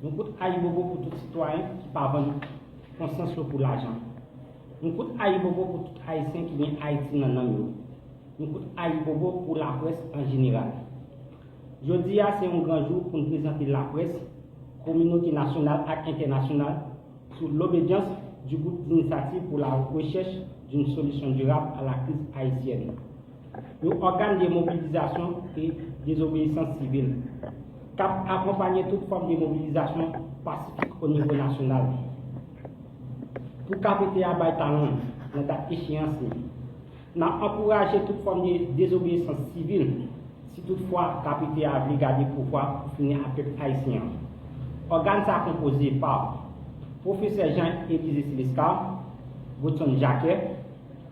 Yon kout ayibobo pou tout sitwayen ki pa vann konsyans yo pou lajan. Yon kout ayibobo pou tout Ayisyen ki gen Ayiti nan nanm yo. Yon kout ayibobo pou laprès an jeneral. Jodi a se yon gran jou pou n prezante laprès, kominote nasyonal ak entènasyonal sou lobedyans du Groupe d'Initiative pour la Recherche d'une Solution Durable à la Crise Haïtienne. Yon ògàn de mobilizasyon e dezobeyisans sivil, k ap akonpanye tout fòm de mobilizasyon pasifik o nivo nasyonal. Pou KPT a bay talan l nan dat echeyans li, n ap ankouraje tout fòm de dezobeyisans sivil, si tout fwa KPT a vle gade pouvwa pou fini ak pèp ayisyen an. Ògàn sa konpoze pa, Pwofesè Jean Elize Silescar, Godson Jacquet,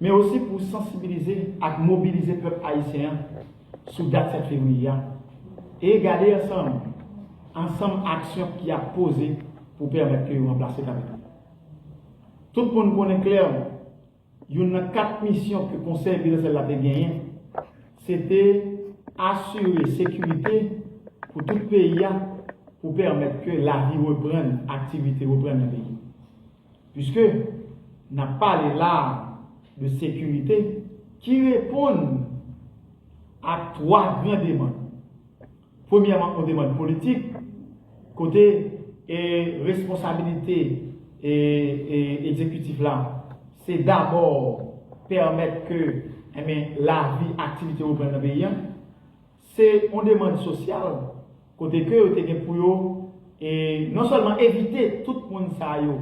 men osi pou sansibilize ak mobilize pèp ayisyen an sou dat 7 fevriye a e gade ansanm ansanm aksyon ki ap poze pou pèmèt ke yo ranplase kavek li. Tout moun konnen klèman youn nan 4 misyon ke Konsèy Prezidansyèl la te genyen se te asire sekirite pou tout peyi a pou pèmèt ke lavi reprann, aktivite reprann nan peyi. Puiske n ap pale la a de sekirite ki reponn a twa gran demann. Premyèman on demann politik kote e responsabilite e e ekzekitif la se dabò pèmèt ke enben lavi, aktivite reprann nan peyi a. Se yon demand sosyal kote ke yo te gen pou yo e non sèlman evite tout moun sa yo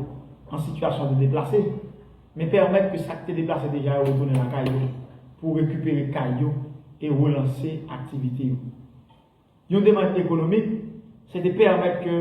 an sitiyasyon de deplase, men pèmèt ke sak te deplase deja yo retounen lakay yo pou rekipere kay yo e relanse aktivite yo. Yon demand ekonomik, se te pèmèt ke.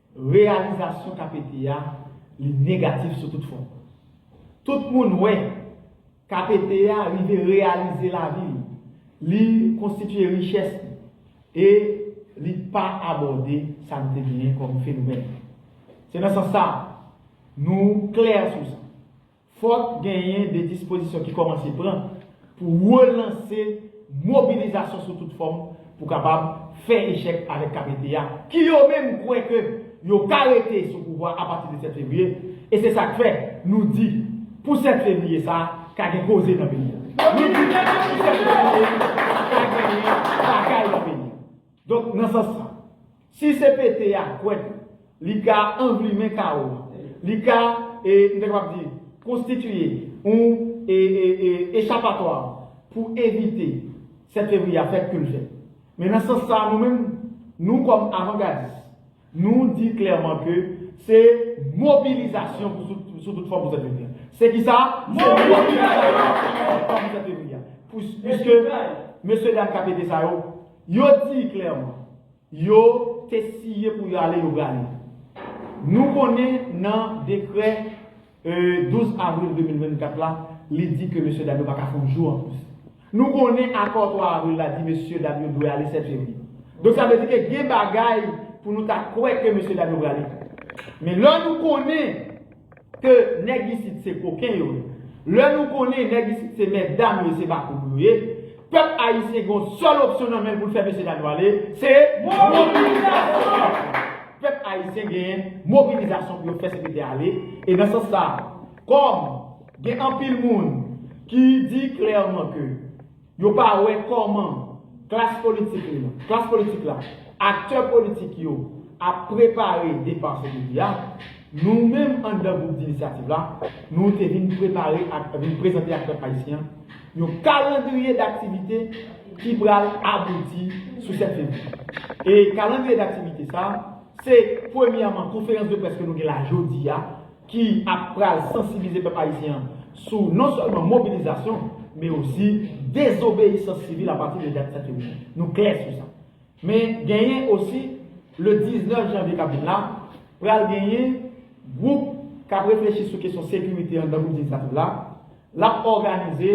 Reyalizasyon KPT a, li negatif sou tout fon. Tout moun wè, KPT a rive reyalize lavi li, li konstitye richès li, e li pa abòde sa nou te genyen kòm fenomèn. Se nan sans sa, nou klè sou sa, Fòk genyen de dispozisyon ki kòmanse pran pou relanse mobilizasyon sou tout fòm pou kapab fè echèk avèk KPT a ki yo menm kwè ke yo ka rete sou pouvwa a pati de 7 fevriye e se sak fè nou di pou 7 fevriye sa ka gen koze nan peyi a. Nou di pou 7 fevriye sa ka genyen bagay nan peyi a. Donk nan sans sa, si se pete a kwèt li ka anvlimen kawo a, li ka, e m ta kapab di, konstitiye yon echapatwa pou evite 7 fevriye a fèt ke l fèt. Men nan sans sa nou menm, nou kòm avangadis, Nou di klèman ke se mobilizasyon sou tout fòm pou zèv Levy a. Se ki sa? Se mobilizasyon sou tout fòm pou zèv Levy a. Piske mesye dam KPT sa yo, yo di klèman, yo te siye pou yo ale, yo prale. Nou konnen nan dekrè. 12 avril 2024 la, li di ke mesye dam yo pa ka fè yon jou anplis. Nou konnen akò 3 avril la di mesye dam yo dwe ale 7 fevriye. Donk sa vle di ke gen bagay pou nou ta kwè ke mesye dam yo prale fè. Men lè nou konnen ke nèg isit se koken yo ye, lè nou konnen nèg isit se mètdam yo ye se bakoum yo ye, Pèp ayisyen gen yon sèl opsyon nan men l pou l fè mesye dam yo ale, se mobilizasyon! Pèp ayisyen gen mobilizasyon pou yo fè CPT a ale, e nan sans sa, kòm gen anpil moun ki di klèman ke yo pa wè kòman klas politik li, klas politik la, aktè politik yo ap prepare depar CPT a, nou menm anndan Gwoup Dinisyativ la, nou te vin prepare ak, vin prezante ak pèp ayisyen an, yon kalandriye daktivite ki pral abouti sou 7 fevriye. E kalandriye daktivite sa, se premyèman konferans de près ke nou gen la jodi a, ki ap pral sansibilize pèp ayisyen an sou non sèlman mobilizasyon, men osi dezobeyisans sivil apati de dat 7 fevriye. Nou klè sou sa. Men genyen osi le 19 janvye kap vin la pral genyen gwoup kap reflechi sou kesyon sekirite anndan gwoup Lejislativ la, lap òganize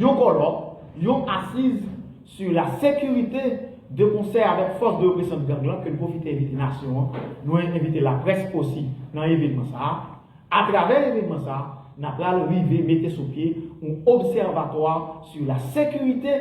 yon kòlòk, yon asiz sur la sécurité de konsè avèk fòs de represyon gang lan ke n pwofite envite nasyon an, nou envite laprès osi nan evenman sa a. Atravè evenman sa a, na pral rive mete sou pye yon obsèvatwa sur la sécurité.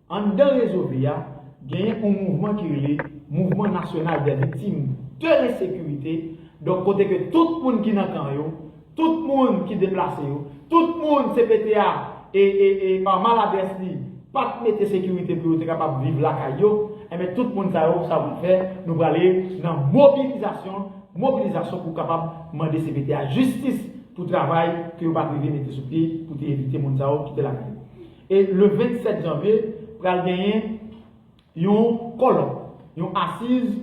Anndan Rezo Bi a, genyen on mouvman ki rele Mouvman Nasyonal dè Viktim dè Lensekirite, donk kote ke tout moun ki nan kan yo, tout moun ki deplase yo, tout moun cpt a e, e, e, pa maladrès li, pa t mete sekirite pou yo te kapab viv lakay yo, enben tout moun sa yo, sa yo pral fè, nou prale nan mobilizasyon, mobilizasyon pou kapab mande cpt a jistis pou travay ke yo pa t rive mete sou pye pou te evite moun sa yo kite lakay yo. E le 27 janvye pral genyen yon kòlòk, yon asiz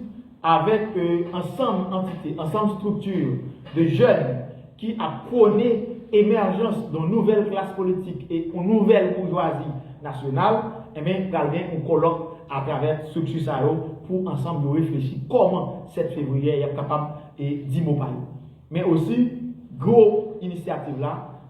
avèk ansanm antite, ansanm strikti de jèn ki ap pwone emèjans yon nouvèl klas politik e yon nouvèl boujwazi nasyonal, enben pral gen yon kòlòk atravè strikti sa yo pou ansanm yo reflechi kòman 7 fevriye y ap kapab di mo pa yo. Men osi gwo inisyativ la.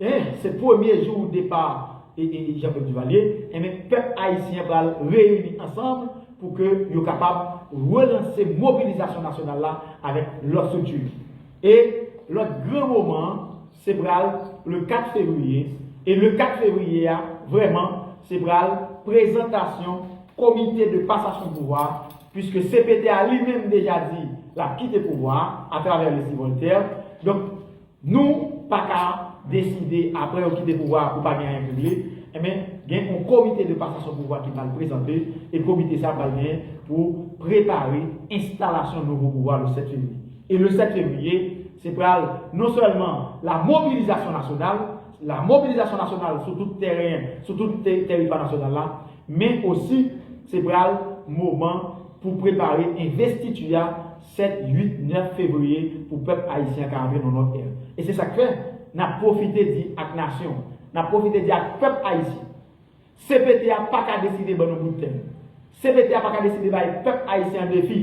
Hein se premye jou depa Jean Claude Duvalier enben pèp ayisyen an pral reyini ansanm pou ke yo kapab relanse mobilizasyon nasyonal la avèk lòt strikti e lòt gran moman an se pral le 4 fevriye e le 4 fevriye a vrèman se pral prezantasyon komite de pasasyon pouvwa a puiske cpt a li menm deja di lap kite pouvwa a atravè Leslie Voltaire donk Nou paka deside apre yo kite pouvwa a pou pa gen anyen pou regle, enben gen yon komite de pasasyon pouvwa ki pral prezante e komite sa pral gen pou prepare enstalasyon nouvo pouvwa le 7 fevriye. E le 7 fevriye se pral non sèlman la mobilizasyon nasyonal, la mobilizasyon nasyonal sou tout tèren, sou tout tèritwa nasyonal la, men osi se pral moman pou prepare envestiti a, 7, 8, 9 fevriye pou pèp ayisyen an ka antre nan yon lòt ère. E se sa k fè, n ap pwofite di ak nasyon an, n ap pwofite di ak pèp ayisyen, cpt a pa ka deside ban nou bout tè nou. Cpt a pa ka deside bay pèp ayisyen an defi.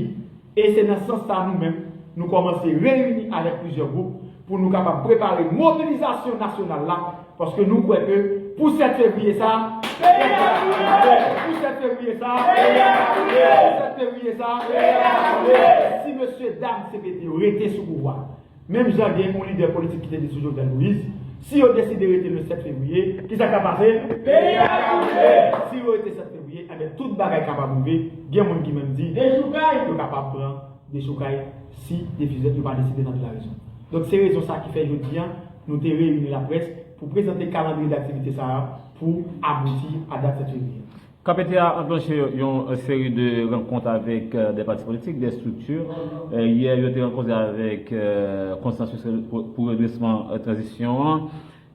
E se nan sans sa a nou menm, nou kòmanse reyini avèk plizyè gwoup, pou nou kapab prepare mobilizasyon nasyonal la, paske nou kwè ke pou 7 fevriye sa a, peyè a ap boule, pou 7 fevriye sa a, peyè a ap boule, pou 7 fevriye sa a, peyè a ap boule, si mesye dam CPT yo rete sou pouvwa, menm jan gen yon lidè politik ki te di sou Jovenel Moïse, si yo deside rete le 7 fevriye, ki sa k ap pase? Peyi a ap boule! Si yo rete 7 fevriye, enben tout bagay kapab rive, gen moun ki menm di, yo kapab pran. de sou kay si defizè yo pa deside tande larezon. Donk se rezon sa ki fè jodi a nou te reyini laprès pou prezante kalandriye daktivite sa a pou abouti a dat 7 fevriye a. KPT a anklanche yon seri de rankont avèk de pati politik, de estrikti. Yè yo te rankont avèk Konsansis pou Redresman Tranzisyon an.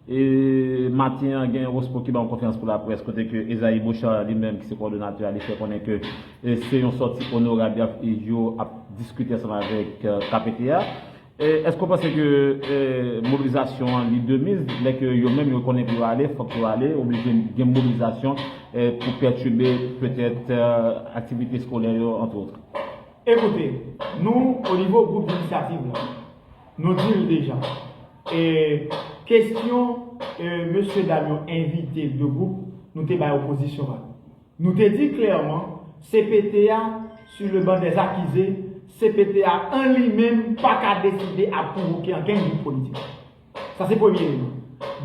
E maten an gen Rospo ki ban yon konferans pou laprès kote ke Esaïe Beauchard li menm ki se kòdonatè a li fè konnen ke se yon sòti onorab yap yo ap diskite ansanm avèk kpt a. Èske ou panse ke mobilizasyon an li de miz lè ke yo menm yo konnen pou yo ale fòk yo ale oblije gen mobilizasyon pou pètibe petèt aktivite skolè yo entre autres? Ekoute, nou o nivo gwoup inisyativ la, nou di l deja, E kesyon e mesye dam yo envite de gwoup nou te bay opozisyon an. Nou te di klèman cpt a su le ban dè akize, cpt a an li menm pa ka deside ap konvoke ankenn gwoup politik. Sa se premye eleman.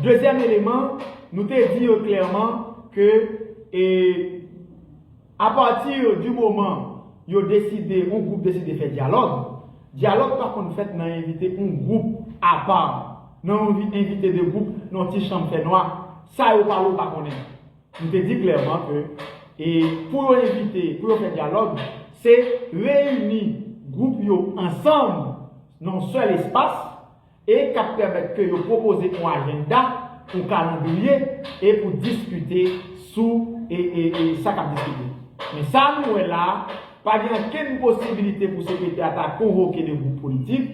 Dezyèm eleman, nou te di yo klèman ke e. A partir du moment yo deside on group deside fè dialogue, dialogue pa konn fèt nan envite on group apa, nan on envite 2 group nan on ti chanm fè nwa, sa yo pale w pa konnen. Nou te di clairement ke e pou yo envite, pou yo fè dialogue, se reyini group yo ansanm nan on seul espace, e k ap pèmèt ke yo pwopoze yon ajenda, yon kalandriye e pou diskite sou sa k ap diskite. Men sa nou wè la, pa gen ankenn posibilite pou sekretè a ta konvoke 2 gwoup politik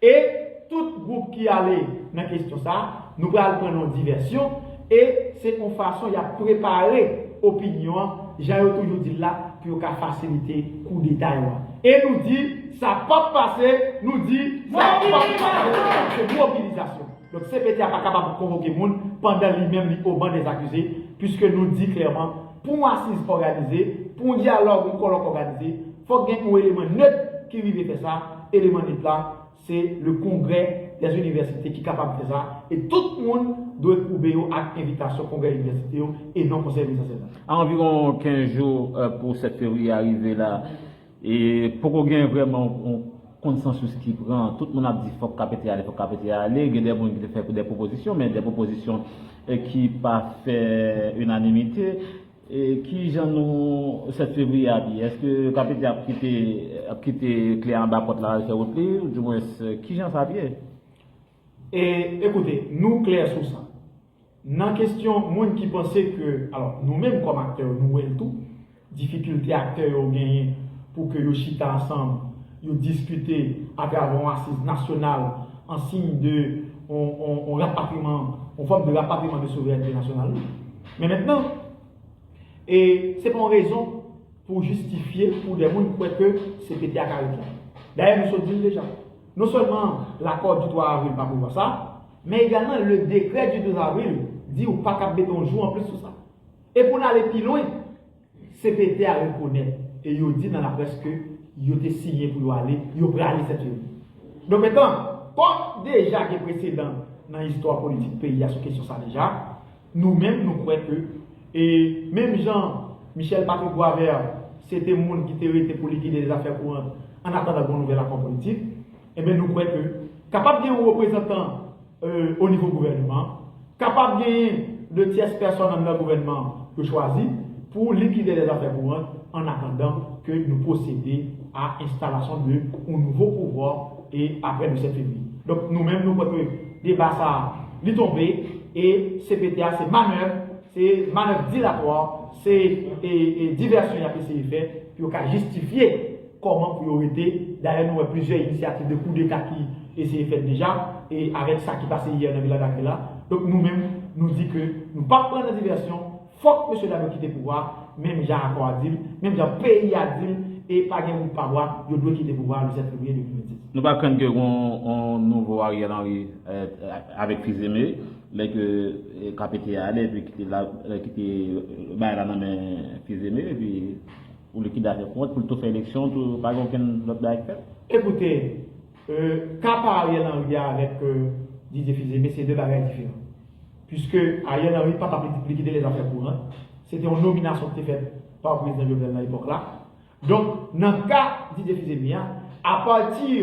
e tout gwoup ki ale nan kestyon sa, nou pral pran nan yon divèsyon. E se yon fason y ap prepare opinyon an, jan yo toujou di l la, pou yo ka fasilite koudeta yo an. E nou di, sa p ap pase, nou di, sa p ap pase, se mobilizasyon. Donk cpt a pa kapab konvoke moun pandan li menm li oban dèzakize, piske nou di klèman, pou yon asiz òganize, pou yon dyalòg, yon kòlòk òganize, fòk gen yon eleman nèt ki rive fè sa, eleman nèt la, Se le kongrè des universités ki kapab fè sa e tout moun dwe koube yo ak envitasyon kongrè inivèsite yo e non konsèy minis ansèyman yo. A anviwon 15 jou pou 7 fevriye a rive la, e poko gen vrèman yon konsansous ki pran. Tout moun ap di fòk KPT ale, fòk KPT ale. Gen de moun ki te fè de pwopozisyon, men de pwopozisyon ki pa fè inanimite. Ki jan nou 7 fevriye ap ye? Eske KPT ap kite ap kite kle anba pòt la al fè wout li? Ou di mwens ki jan sa ap ye? E, ekoute, nou klè sou sa. Nan kestyon moun ki panse ke, alò, nou menm kòm aktè yo nou wè l tou, difikilte aktè yo genyen pou ke yo chita ansanm, yo diskite atravè yon asiz nasyonal an siy de yon yon yon rapatriman, yon fòm de rapatriman de souverènte nasyonal nou. Men mentnan, e se pa yon rezon pou jistifye pou de moun kwè ke se pete ak arit la. Dayè nou sot di l deja, non sèlman lakò di 3 avril pa prevwa sa, men egalman le dekrè di 12 avril di ou pa kab mete yon jou anplis sou sa. E pou n ale pi lwen, Cpt a rekonèt e yo di nan laprès ke yo te siyen pou yo ale, yo prale sèt yo. Donk etan, kòm deja gen presedan nan istwa politik peyi a sou kesyon sa deja, nou menm nou kwè ke, e menm jan Michel Patrick Boisvert se te moun ki te rete pou li gide zafè kourant annatandan gon nouvèl akò politik, Enben nou kwè ke kapab gen yon reprezantan o nivo gouvènman an, kapab genyen de tyès pèsòn anndan gouvènman an yo chwazi pou likide lè zafè kourant an atandan ke nou pwosede a enstalasyon de yon nouvo pouvwa e apre le 7 fevriye. Donk nou menm nou kwè ke deba sa a li tonbe e cpt a se manèv, se manèv dilatwa, se divèsyon y ap eseye fè pou yo ka jistifye. Kòman pou yo rete? Dayè nou wè plizyè inisyativ de koudeta ki eseye fèt deja e avèk sa ki pase yè nan Viladagrè la. Donk nou menm nou di ke nou pap pran nan divèsyon, fòk mesye dam yo kite pouvwa a menm jan akò a di l, menm jan peyi a di l e pa gen wout pa bwa, yo dwe kite pouvwa a le 7 fevriye 2026. Nou pa krenn ke gon yon nouvo Ariel Henry avèk fils aimé lè ke KPT a ale epi kite bagay la nan men fils aimé epi. Ou likidatè kont pou l tou fè eleksyon tou pa gen okenn lòt bagay k fèt. Ekoute, ka pa Ariel Henry a avèk Didier Fils-Aimé se 2 bagay diferan. Puiske Ariel Henry pa t ap likide lèzafè kourant, se te yon nominasyon ki te fèt pa Prezidan Jovenel nan epòk la. Donk nan ka Didier Fils-Aimé a, apati.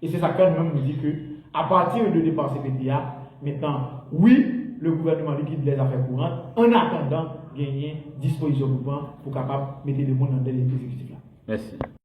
E se sak fè nou menm nou di ke a partir de depan CPT a, mentnan wi le gouvernement liquide les affaires courantes en attendant genyen dispozisyon pou pran pou kapab mete le moun nan tèt egzekitif la. Mèsi.